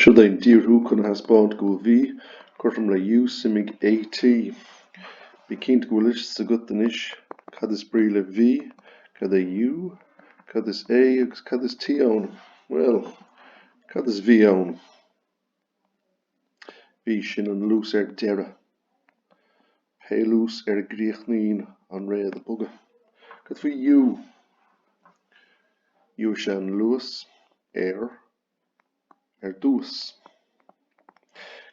Seo é an díorthú chun a thaispeáint go bhfuil V cothrom le U suimigh AT. Bí cinnte go bhfuil fhios agat anois cad is brí le V, cad é U, cad is A agus cad is T ann. Bhuel. cad is V ann? V sin an luas ar deireadh. Pé luas ar a gcríochnaíonn an réad ag bogadh. Cad faoi U? U is ea an luas ar ar dtús.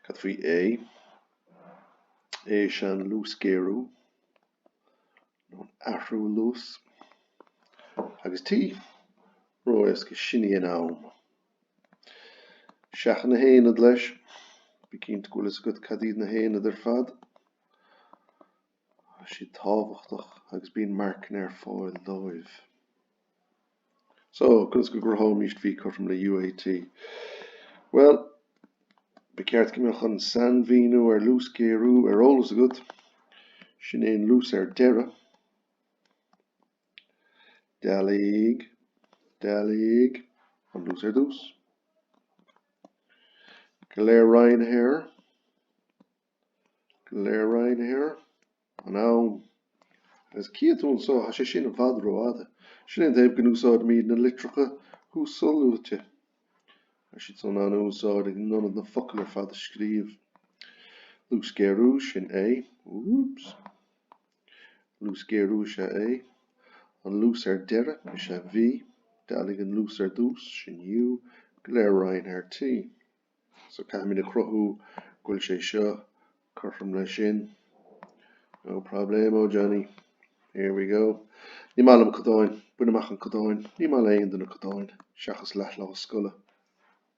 Cad faoi A? A is ea an luasghéarú, nó an athrú luas. Agus T? Ró-éasca, sin é an am. Seachain na haonaid leis. Bí cinnte go bhfuil fhios agat cad iad na haonaid ar fad. Tá siad tábhachtach agus bíonn marcanna ar fáil dóibh. So, conas go gcruthóimist V cothrom le UAT? Bhuel, ba cheart go mbeadh an sainmhíniú ar luasghéarú ar eolas agat. Sin é an luas ar deireadh. Dealaigh, dealaigh an luas ar dtús, go léir roinnte ar, go léir roinnte ar an am, agus chífidh tú anso, thá sé sin i bhfad rófhada, sin an taobh go n-úsáidimid na litreacha thuasluaite, thá siad san an-úsáideach in ionad na focail ar fad a scríobh. Luasghéarú, sin A, oops. Luasghéarú is ea A. An luas ar deireadh is ea V. Dealaigh an luas ar dtús, sin U, go léir roinnte ar T. So caithfimid a chruthú go bhfuil sé seo cothrom le sin. No problemo, Johnny. Here we go. Ní maith liom codáin. Bain amach an codáin. Ní maith le aon duine codáin, seachas leathlá scoile.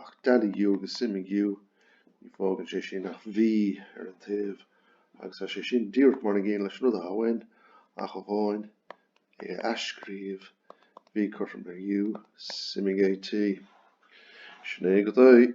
Ach dealaigh U agus suimigh U, ní fágann sé sin ach V ar an taobh, agus tá sé sin díreach mar an gcéanna leis an rud athá uainn, ach amháin é a athscríobh, V cothrom le U, suimigh AT. Sin é go doigh.